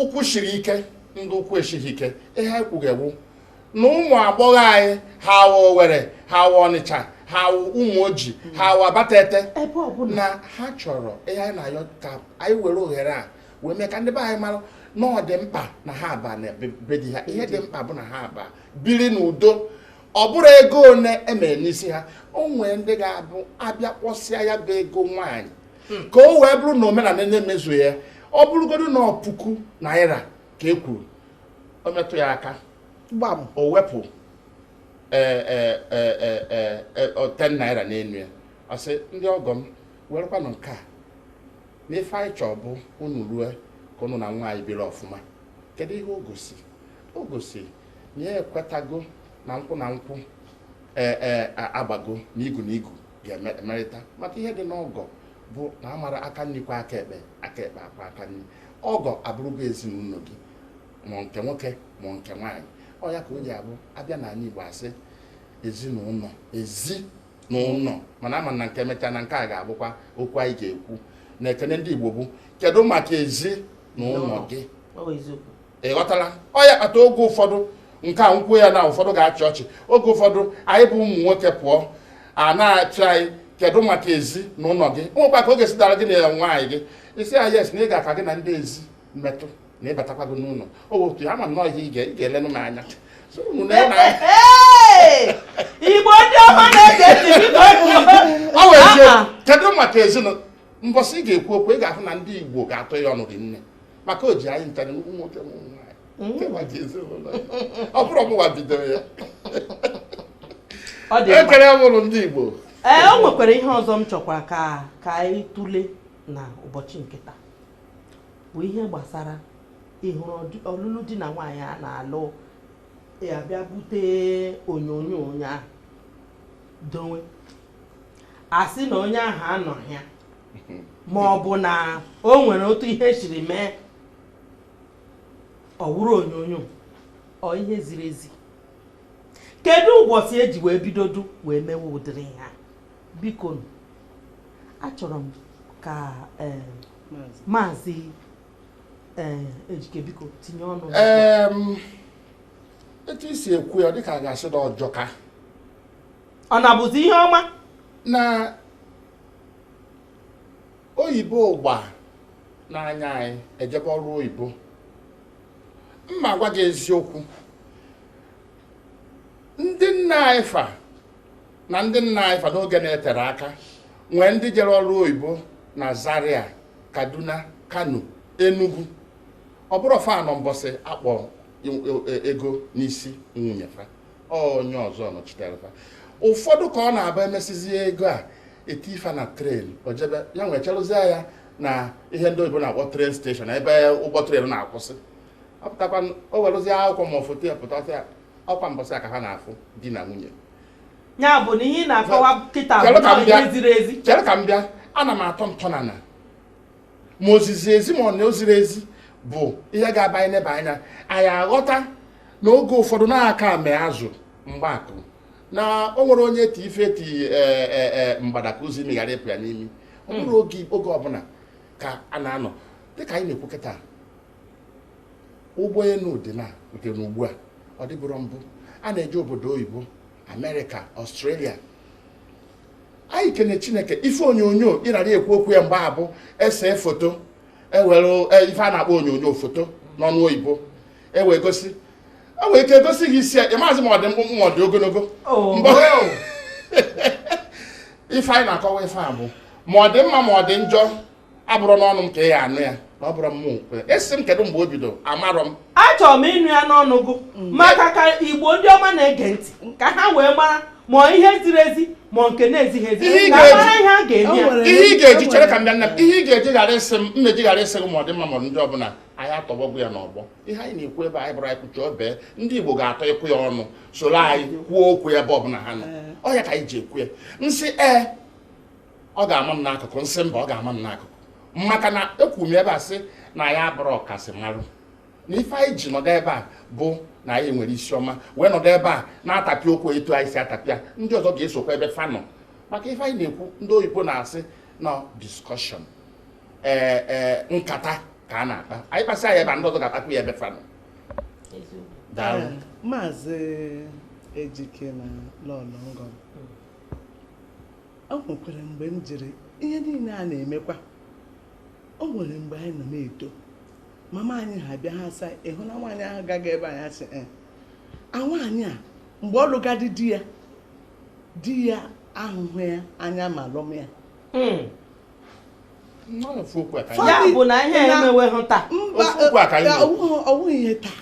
ụkwụ shiri ike ndị ụkwụ esighị ike ihe anyị kwuga wụ na ụmụ agbọghọ anyị ha awa Owere ha awa Ọnịcha ha awa Ụmụoji ha awa Abatete na ha chọrọ ihe anyị na-ayọ ka anyị were ohere a wee mee ka ndị be anyị mara na ọ dị mkpa na ha aba na be di ha ihe dị mkpa bụ na ha aba biri n'udo ọ bụrụ ego one e mere n'isi ha o nwere ndị ga-abụ abịa kpọsịa ya bụ ego nwaanyị hmm. ka o wee bụrụ na omenala na-emezu ya ọ bụrụgodu na puku naira ka e kwuru ọ metụ ya aka gbam o wepụ e, e, e, ten naira n'enu ya ọ sị ndị ọgọ m werekwanụ nke a na ife anyị chọọ bụ unu rue ka unu na nwa anyị biri ọfụma kedu ihe o gosi o gosi na ya ekwetago na nkwụ na nkwụ ee e, agbago n'igu n'igu ga-emerịta maka ihe dị n'ọgọ bụ na a mara aka nni kwọọ aka ekpe aka ekpe akwọọ aka nni ọgọ abụrụgo ezi na ụnọ gị ma nke nwoke ma nke nwaanyị ọ ya ka o ji abụ abịa na anyị Igbo asị ezi na ụnọ ezi na ụnọ mana a ma na nke emechaa na nke a ga-abụkwa okwu anyị ga-ekwu na ekene ndị Igbo bụ kedu maka ezi na ụnọ gị ị ghọtara ọ ya kpata oge ụfọdụ nke a m kwuo ya na ụfọdụ ga-achị ọchị oge ụfọdụ anyị bụ ụmụ nwoke pụọ a na-asị anyị kedu maka ezi na ụlọ gị nwekwa ka ọ ga-esi dara gị na nwaanyị gị ị sị ya yes na ị ga-aka gị na ndị ezi metụ na ịbatakwa gị n'ụlọ otu ama nnọọ ihe ị ga-elenụ m anya Igbo ndị ọma na-ege ntị kedu maka ezinụlọ mbọsị ị ga-ekwu okwu ị ga-ahụ na ndị Igbo ga-atọ ya ọnụ gị nne maka o ji anyị nchara ụmụ nwoke ụmụ nwaanyị mm. maka ezinụlọ ya ọ bụrọ mụwa bidoro ya ekere mụrụ ndị Igbo ee eh, o nwekwara ihe ọzọ m chọkwa ka anyị tụle na ụbọchị nke taa bụ ihe gbasara ị hụrụ ọlụlụ di na nwaanyị a na-alụ a bịa bute onyonyo onye ahụ dowe a sị na onye ahụ anọghị ya ma ọ bụ na o nwere otu ihe siri mee ọ wụrụ onyonyo ọ ihe ziri ezi kedu ụbọchị e ji wee bidodu wee mewe ụdịrị ihe a biko achọrọ m ka eh, maazị eh, Ejike biko tinye ọnụ etu i si ekwu ya dịka a ga-asị na ọ jọka ọ na-abụzi ihe ọma na oyibo ụgba n'anya anyị ejebe ọrụ oyibo m ma-agwa gị eziokwu ndị nna anyị fa na ndị nna anyị fa n'oge na-eterọ aka nwee ndị jere ọrụ oyibo na Zaria Kaduna Kano Enugu ọ bụrọ fa nọ mbọsị a kpọ e, e, ego n'isi nwunye fa onye ọzọ nọchitere fa ụfọdụ ka ọ na-abụ e mesizie ego a e tii fa na train o jebe ya wee cherụzie ya na ihe ndị oyibo na-akpọ train station ebe ụgbọ train na-akwụsị ọ pụtakwa o werụzie akwụkwọ ma foto ya pụta ya ọ kwa mbọsị a ka ha na-afụ di na nwunye ya bụ na ihe na-akọwa kịta bụ ihe ziri ezi chere ka m bịa ana m atọ ntọnana ma o ziri ezi ma ọ na o zirọ ezi bụ ihe ga-aba anyị neba anya anyị aghọta na oge ụfọdụ na-aka ame azụ mgbakụ na o nwere onye ti ife ti e, e, e, mgbada ka ozi meghara ịpụ ya n'imi ọ bụrọ hmm. oge oge ọbụla ka a na-anọ dịka anyị na-ekwu kịta ụgbọelu dị na nke na ugbu a ọ dịburọ mbụ a na-eje obodo oyibo America Australia anyị kene chineke ife onyonyo ị na-ekwu okwu ya mgbe a bụ e see foto e were e, ife a na-akpọ onyonyo foto n'ọnụ oyibo e wee gosi e nwee ike egosi gị isi ya ị mazi ma ọ dị mkpụmkpụ ma ọ dị ogologo oh. mgbe ife anyị na-akọwa ife a bụ ma ọ dị mma ma ọ dị njọ abụrọ n'ọnụ m ka ị ya-anụ ya na ọ bụrụ ma ị sị m kedu mgbe o bido amarọ m achọrọ m ịnụ ya n'ọnụ gụ mm. maka ka igbo ndị ọma na-ege ntị ka ha wee mara ma ihe ziri ezi ma nke na-ezighị ezi ihe ị ga-eji chere ka m bịa nna m ihe ị ga-eji ghara ịsị m m ma-eji ghara ịsị gị ma ọ dị mma ma ọ dị njọ bụ na anyị atọgbọgo ya n'ọgbọ ihe anyị na-ekwu ebe anyị bụrụ anyị kwucha obere ndị Igbo ga-etikwu ya ọnụ soro anyị kwuo okwu ebe ọbụla ha nọ ọ ya ka anyị ji ekwu ya nsị ee ọ ga-ama m n'akụkụ m sị mba ọ ga-ama m n'akụkụ maka na ekwu m ebe a sị na ya bụrụ ọkasị marụ na ife anyị ji nọdụ ebe a bụ na anyị nwere isi ọma wee nọdụ ebe a na-atapịa okwu etu anyị si atapịa ndị ọzọ ga-esokwa ebe fa nọ maka ife anyị na-ekwu ndị oyibo na-asị na discussion ee eh, ee eh, nkata ka a na-akpa anyị kpasịa ebe a ndị ọzọ ga-akpakwu ya ebe fa nọ eh, maazị ejike na lọlọ ngọm o nwekwara mgbe m jiri ihe niile a na-emekwa o nwere mgbe anyị nọ na-eto mama anyị ha bịa ha asị ị hụna nwaanyị ahụ gaga ebe a anyị asị eh, a nwaanyị a mgbe ọ lụga di di ya di ya ahụhụ ya anya ma lụma ya hmm. ya bụ na ihe emeweghị taa ọ wụghị ihe taa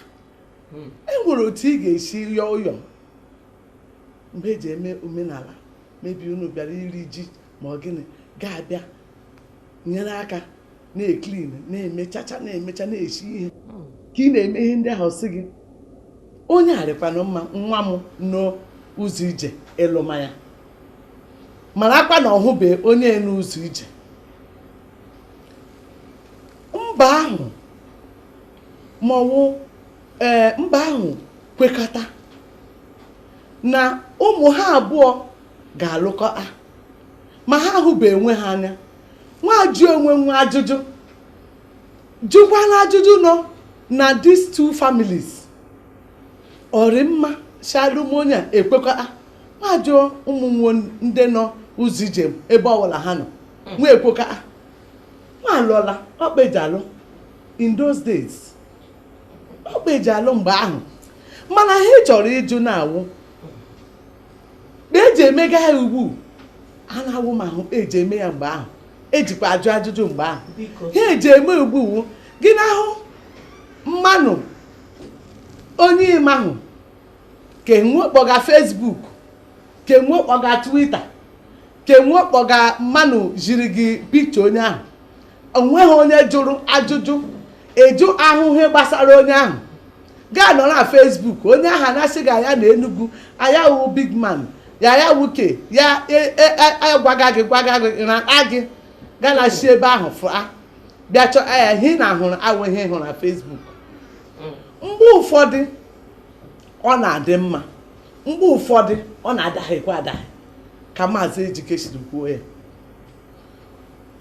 hmm. e nwere otu ị ga-esi yọọ ụyọ mgbe eji eme omenala maybe unu bịara iri ji ma ọ gịnị gị abịa nyere aka na-eclean na-emechacha na-emecha na-esi ihe ka ị na-eme ihe ndị ahụ sị gị onye a rịkwanụ mma nwa m nọ ụzọ ije ịlụma ya marakwa na ọ hụbe onye nọ ụzọ ije mba ahụ ma ọ wụ ee mba ahụ kwekọta na ụmụ ha abụọ ga-alụkọ a ma ha ahụbe onwe ha anya nwa ajụọ onwe nwa ajụjụ jụkwala ajụjụ nọ na these two families ọ rị mma shalụmonye ekwekọta nwa ajụọ ụmụ nwo ndị nọ ụzọ ije ebe ọbụla ha nọ hmm. nwa ekwekọta nwa alụọla ọ kpa eji alụ in those days ọ kpa eji alụ mgbe ahụ mana ha chọrọ ịjụ na-awụ kpa eji emega ha ugbu a na-awụ ma ahụ kpa eji eme ya mgbe ahụ ejikwa ajụ ajụjụ mgbe ahụ ha eji eme ugbu a wụ gị na-ahụ mmanụ onye ị mahụ ke nwo kpọga Facebook ke nwo kpọga Twitter ke nwo kpọga mmanụ ziri gị picture onye ahụ o nweghị onye jụrụ ajụjụ ịjụ ahụ ihe gbasara onye ahụ gị anọrọ na Facebook onye ahụ ana-asị gị ya nọ Enugu a ya wụ big man ya ya wụ ke ya agwaga e, e, e, gị gwaga gị na agị gana si ebe ahụ fụa bịa chọọ ya ihe na ahụrụ awụhụ ihe ị hụrụ na Facebook mgbe ụfọdụ ọ na-adị mma mgbe ụfọdụ ọ na-adaghịkwa adaghị ka maazị Ejike siri kwuo ya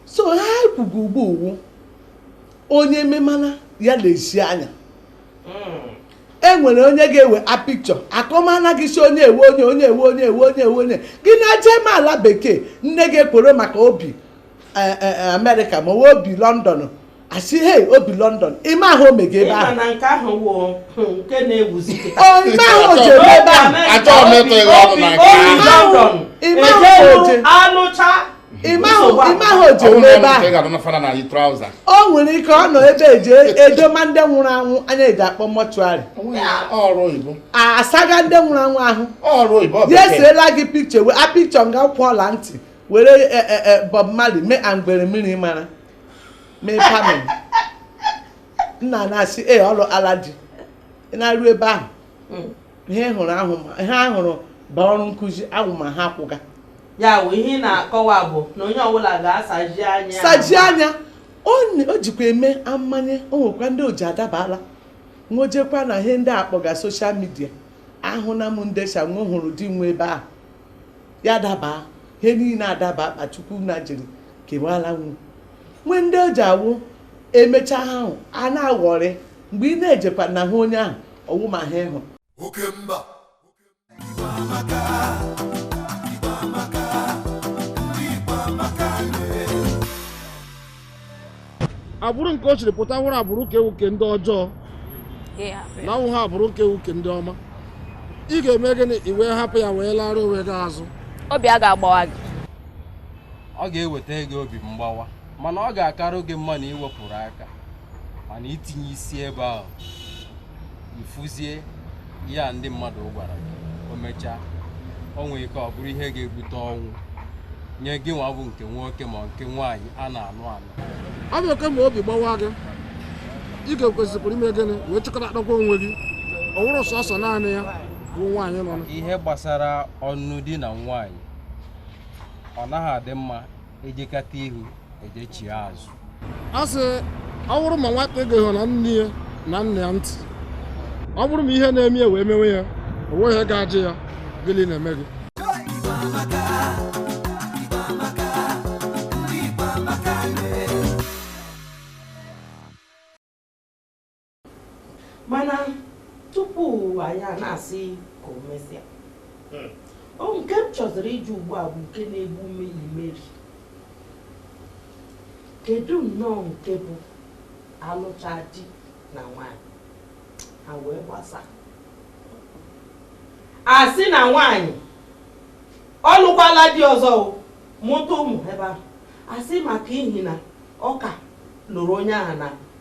so ha ekwugo ugbu a ọ wụ onye memana ya lezie anya hmm. e nwere onye ga-ewe a picture akọmana gị si onye ewe onye onye ewe onye ewe onye ewe onye gị na-eje eme ala bekee nne gị ekwere maka o bi e, e, e, amerịka ma o bi London a sị he o bi london ị ma ihe o mega ebe ahụ nke ahụ wụ hmm, nke na-ewuzi ị ma ihe o ji ebi ebe ahụ achọghị m ịtụ ịgha ọnụ na nke ahụ ị ma ihe o ji anọcha ị ma ihe o ji ebi ebe ahụ o nwere ike ọ nọ ebe e ji edoma ndị nwụrụ anwụ anyị ji akpọ mortuary asaga ndị nwụrụ anwụ ahụ ya eseela gị picture a picture nga kwụ ọla ntị were e, e, e, Bob Marley mee ngwere mmiri mara mee perming nna na-asị ee ọlụ ala dị ị na-arụ ebe ahụ hmm. ihe hụrụ ahụ ma ihe a hụrụ bụ ọrụ nkụzi ahụ ma ha kwụga ya bụ ihe ị na-akọwa bụ na onye ọbụla ga-asaji anya saji anya o jikwa eme amanye o nwekwa ndị o ji adabala wo jekwa na ihe ndị akpọga social media ahụna m ndị shị wo hụrụ di wo ebe ahụ ya daba ihe niile adaba akpa Chukwu nna jiri kewala nwu nwe ndị o ji awụ emecha ha ahụ a na-aghọrị mgbe ị na-ejekwa na hụ onye ahụ ọ wụ ma ha ịhụ oke mba agbụrụ nke o chiri pụta nwụrụ agbụrụ ka ewuke ndị ọjọọ na nwụ ha agbụrụ ka ewuke ndị ọma ị ga-eme gịnị i wee hapụ ya wee lara onwe gị azụ obi a ga-agbawa gị ọ ga-eweta gị obi mgbawa mana ọ ga-akarụ gị mma na i wepụrụ aka mana itinye isi ebe ahụ ị fụzie ihe a ndị mmadụ gwara gị o mechaa o nwere ike ọ bụrụ ihe ga-ebute ọnwụ nye gị nwa bụ nke nwoke ma nke nwaanyị a na-anụ anụ ọ bụ okay ma obi gbawa gị ị ga-ekwesịkwara ime gịnị wee chịkọta akpakwa onwe gị ọ wụrụ sọsọ naanị ya bụ nwaanyị nọ na ihe gbasara ọnụ di na nwaanyị ọ naghị adị mma e jekata ihu e jechie azụ a sị ọ bụrụ ma nwata egeghị na nne ya na nna ya ntị ọ bụrụ ma ihe na-eme ya wee mewe ya o nweghị ihe ga-ajụ ya gịnị na-eme gị mana tupu anyị a na-asị ka o mesịa hmm. o nke m chọziri ịjụ ugbu a bụ nke na-egbu ume imeri kedu nnọọ nke bụ a lụchaa di na nwanyị ha wee gbasaa a sị na nwanyị ọ lụkwala di ọzọ mụta ụmụ ebe ahụ a sị maka ihi na ọ ka lụrụ onye ahụ na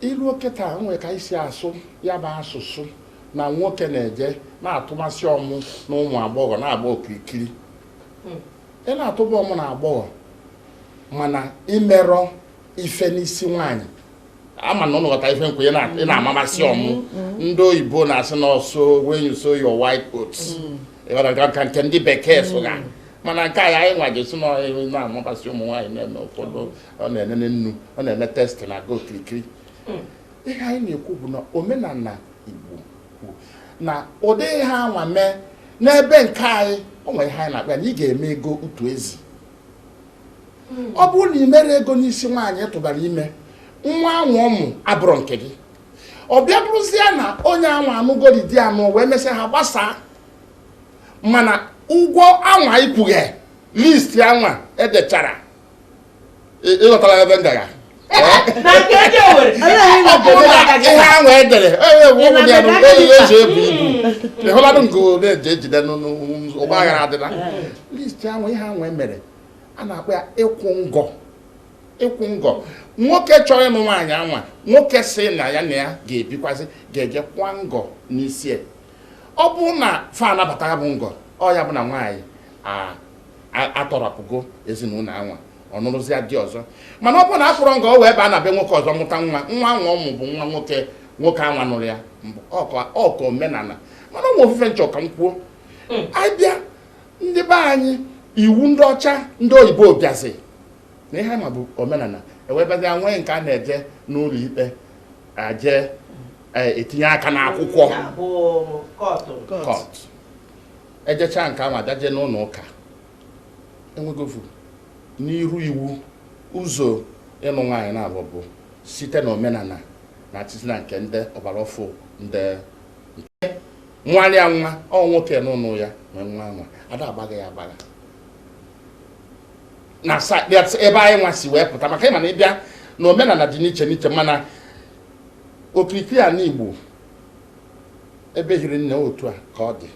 i luo kịta nwee ka e si asụ ya bụ asụsụ na nwoke na-eje na-atụmasị ọmụ na ụmụ agbọghọ na-agba okirikiri hmm. ị na-atụba ọmụ na agbọghọ mana i merọ ife n'isi nwaanyị ama na ụnụ ghọta ife m kwu ị na-amamasị hmm. ọmụ hmm. ndị oyibo na-asị na ọsọ when you sow your wild oats ka nke ndị bekee sụga mana nke anyị nwa ga-asị na ị na-amamasị ụmụ nwaanyị na-eme ụfọdụ ọ na-enene nnu ọ na-eme test na-aga okirikiri hmm. ihe anyị na-ekwu bụ na omenala Igbo kwuru na ụdị ihe anwa mee n'ebe nke anyị o nwere ihe anyị na-akpọ ya na ị ga-eme ego utu ezi hmm. ọ bụrụ na ị mere ego n'isi nwaanyị tụbara ime nwa anwa ọ mụ abụrụ nke gị ọ bịa bụrụzie na onye anwa anụgori di anụ wee mesịa ha gbasaa mana ụgwọ anwa ị kwụghe list anwa e dechara ị ghọtara ebe m da-aga ihe ahụ e dere eji ebu ibu ịhụlanụ nke ole eji ejide n'ụgbọ aghara adịla list ahụ ihe ahụ e mere a na-akpọ ya ịkwụ ngọ ịkwụ ngọ nwoke chọrọ ịnụ nwaanyị anwa nwoke sị na ya na ya ga-ebikwazi ga-eje kwa ngọ n'isi ọ bụ na fa anabata ya bụ ngọ ọ ya bụ na nwaanyị atọrapụgo ezinụlọ anwa ọ nụrụzịa di ọzọ mana ọ bụ na akwụrọ ngọ o wee baa na be nwoke ọzọ mụta nwa nwa anwa ọ mụ bụ nwa nwoke anwa nụrụ ya ọka omenala mana o nwe ofu ife m chọ ka m kwuo hmm. a bịa ndị be anyị iwu ndị ọcha ndị oyibo bịazi na ihe ma bụ omenala e wee bịazia nwee nke a na-eje n'ụlọ ikpe eje etinye aka n'akwụkwọ kọt e jechaa nke ahụ a da-eje n'ụlọ ụka e nwegofu n'iru iwu ụzọ ịnụ nwaanyị naabọ bụ site na omenala na atịtị na nke ndị ọgbara ọfụ ndị nke nwanne ya nwa ọ nwoke nụrụ ya nwe nwa nwa ada agbagha ya agbagha na ebe anyị nwa si wee pụta maka ịma na ịbịa na omenala dị n'iche n'iche mana okirikiri ala Igbo ebe hiri nne otu a ka ọ dị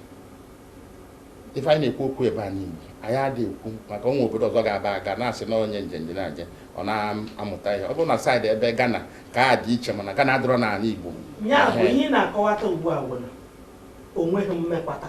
ife anyị na-ekwu okwu ebe a n'Igbo anyị adị ekwu maka ụmụ obodo ọzọ ga-aba aga na-asị na onye njenje na-aje ọ na-amụta ihe ọ bụrụ na saịdị ebe Ghana ka a dị iche mana Ghana adịrọ n'ala Igbo ya bụ ihe ị na-akọwata ugbu a bụ na onweghị mmekwata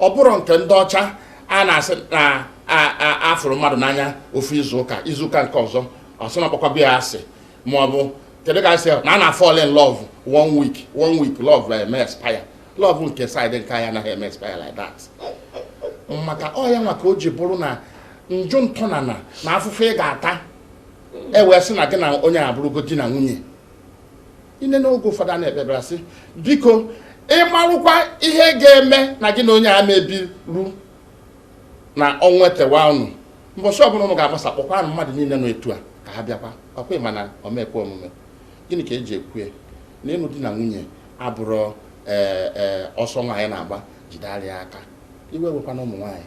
ọ bụrọ nke ndị ọcha a na-asị na a fụrụ mmadụ n'anya ofu izuụka izuụka nke ọzọ ọ sị na ọ kpọkwago ya asị ma ọ bụ kedu ka a sị na a na-fall in love one week one week love eme expire love nke side nke anyị anaghị eme expire like that maka ọ ya nwa ka o ji bụrụ na njụ ntọnana na afụfụ ị ga-ata e wee sị na gị na onye a bụrụgo di na nwunye ine n'oge ụfọdụ a na-ekpebara sị biko ịmarụkwa ihe ga-eme na gị na onye a mebiru na ọnwa etewa unu mbọchị ọbụla unu ga-agbasa kpọkwanụ mmadụ niile nọ etu a ka ha bịakwa ọ kwa ị ma na ọ ma-ekwe omume gịnị ka e ji kwue na ịnụ di na nwunye abụrọ ee e, ọsọ nwaanyị na-agba jide ara ya aka iwe wekwana ụmụ nwaanyị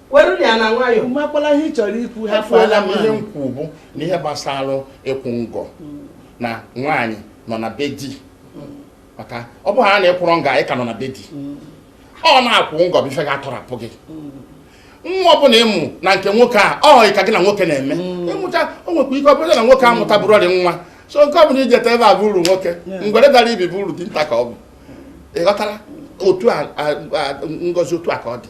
were ya na nwayọọ makwala ihe ị chọrọ ikwu ha fụọla m ihe m kwuo bụ na ihe gbasara ịkwụ ngọ na nwaanyị nọ na be di maka ọ bụghị a na-ekwụrọ nwaanyị ka nọ na be di ọ na-akwụ ngọ bụ ife ga-atọrapụ gị nwa ọbụla ị mụ na nke nwoke a ọ họghị ka gị na nwoke na-eme ị mụcha o nwekwa ike ọ bụrụ na nwoke amụta bụrụ ọrị nwa so nke ọ bụla i jeta ebe a bụ uru nwoke ngwere dara ibi bụ uru dinta ka ọ bụ ị ghọtara otu a ngozi otu a ka ọ dị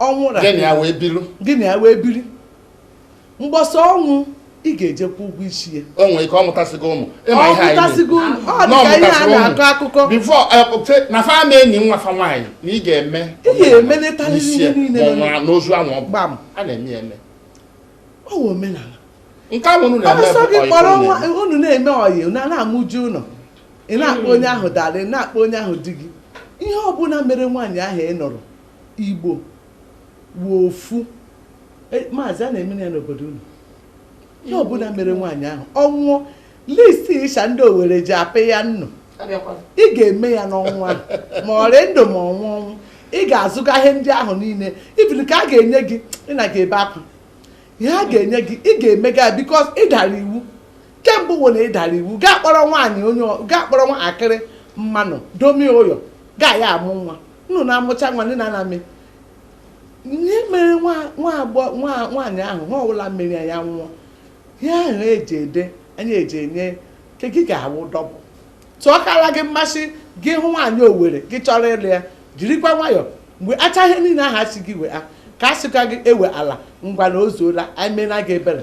ọ nwụrụ gị na ya wee biri gị na ya wee biri mgbe ọ sọ ọ nwụ ị ga-eje kwụ ụgwọ isi ya o nwere ike ọ mụtasịgo ụmụ ịma ihe anyị mụtasịgo ụmụ ọ dị ka ihe a na-akọ akụkọ bifo eh, na fa ama eni nwa fa nwaanyị na ị ga-eme ị ga-emelịtarị ihe niile ma ọ nwụrụ n'ozu ahụ ọ gbam a na-eme ya eme ọ wụ omenala nke ahụ unu na-eme bụ ọyị unu na-eme ọyị na-amụju ụlọ ị na-akpọ onye ahụ darling ị na-akpọ onye ahụ di gị ihe ọbụla mere nwaanyị ahụ ị nụrụ Igbo wụ ofu E, maazị a na-eme ya n'obodo unu ihe ọbụla mere nwaanyị ahụ ọ nwụọ list ịsha ndị Owere ji apị ya nnụ ị ga-eme ya n'ọnwụ ahụ, ma ọ rị ndụ ma ọ nwụ ọnwụ ị ga-azụga ihe ndị ahụ niile ibiri ka a ga-enye gị ị na ga-ebe akwa ihe a ga-enye gị ị ga-emega ya because ị dara iwu kemgbe ụwa na ịdara iwu gaa kpọrọ nwaanyị onye gaa kpọrọ nwa akịrị mmanụ domi ụyọ gaa ya amụ nwa unu na-amụcha nwa ndị na-anamị ihe mere nwaanyị ahụ nwa ọbụla mmiri ya nwụọ ihe ahụ eji ede anyị eji enye nke gị ga-awụ double tụọ kara gị mmasị gị hụ nwaanyị owere gị chọrọ ịlụ ya jirikwa nwayọọ mgbe acha ihe niile ahụ a sị gị wee ka a sịkwa gị ewe ala ngwa na o zuola anyị meela gị ebere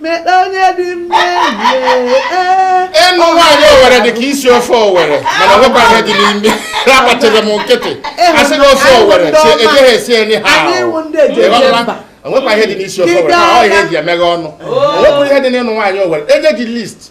mekpe onye dị ịnụ nwaanyị owere dị ka isi ofe owere mana nwekwa ihe dị n'ime agbachara m nkịtị a sị na ofe owere ejighị esi enyi ha o nwekwa ihe dị n'isi ofe owere ọ ihe eji emeghe ọnụ o nwekwa ihe dị n'ịnụ nwaanyị owere e nye gị list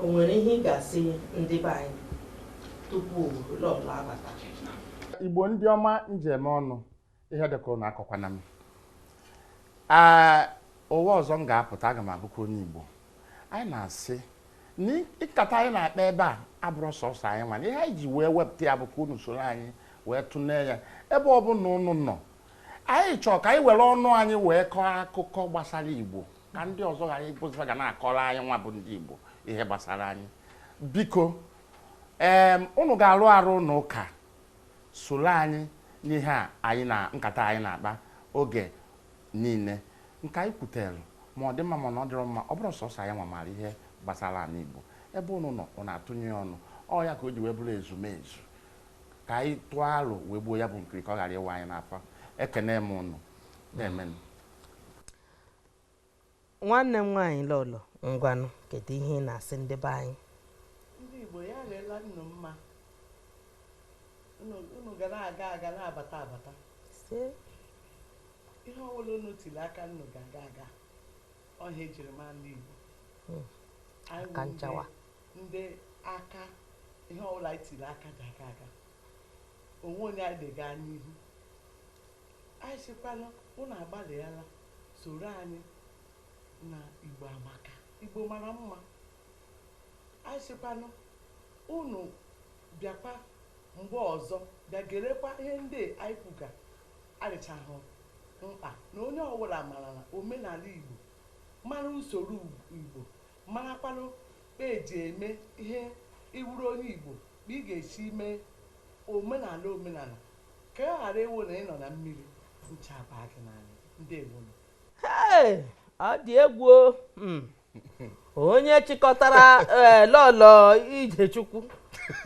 o nwere ihe ị ga-asị ndị be anyị tupu lọlọ abata igbo ndị ọma m ji eme ọnụ ihe dịka ụnụ akọkwana m ee ụwa ọzọ m ga-apụta aga m abụkwa onye igbo anyị na-asị na nkata anyị na-akpa ebe a abụrọ sọsọ anyị nwa na ihe anyị ji wee wepụta ya bụ ka unu soro anyị wee tụnee ya ebe ọbụla unu nọ anyị chọọ ka anyị were ọnụ anyị wee kọọ akụkọ gbasara igbo ka ndị ọzọ ghara ịbụzị fa ga na-akọrọ anyị nwa bụ ndị Igbo ihe gbasara anyị biko ee ụnụ ga-arụ arụ ụnụ ka soro anyị n'ihe a anyị na nkata anyị na-akpa oge niile nke anyị kwutere ma ọ dị mma ma na ọ dịrọ mma ọ bụrọ sọsọ anyị nwa maara ihe gbasara anị Igbo ebe ụnụ nọ ụnụ atụnye ya ọnụ ọ ya ka o ji wee bụrụ ezumezu ka anyị tụọ alo wee gbuo ya bụ nkiri ka ọ ghara ịwa anyị n'afọ ekene m ụnụ na-emenụ nwanne m nwaanyị lọlọ ngwanụ kedu ihe ị na-asị ndị be anyị ndị Igbo ya leela nnu mma unu ga na-aga aga na-abata abata ihe ọwụla unu tiri aka nnu ga-aga aga ọ ihe ejiri mara ndị Igbo hmm. anyị ndị aka ihe ọwụla anyị tiri aka ga-aga aga o nwe onye anyị ga-aga n'ihu Anyị sịkwanụ unu agbalịala soro anyị na Igbo Amaka, Igbo mara mma. Anyị sịkwanụ unu bịakwa mgbe ọzọ bịa gerekwa ihe ndị anyị kwuga adịchahụ mkpa na onye ọwụla mara na omenala Igbo mara usoro Igbo marakwanụ E ji eme ihe ị wụrụ onye Igbo bụ ị ga-esi mee omenala omenala ka ọ ghara ịwụ na ị nọ na mmiri ncha baa gị n'anya. Ndewonu. Hey! Ọ dị egwu o. Hmm. Onye chịkọtara eh, lọlọ Ijechukwu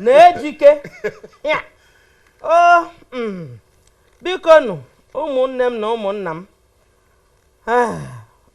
n'ejike a o mm, biko nụ ụmụnne m na ụmụnna m Ah,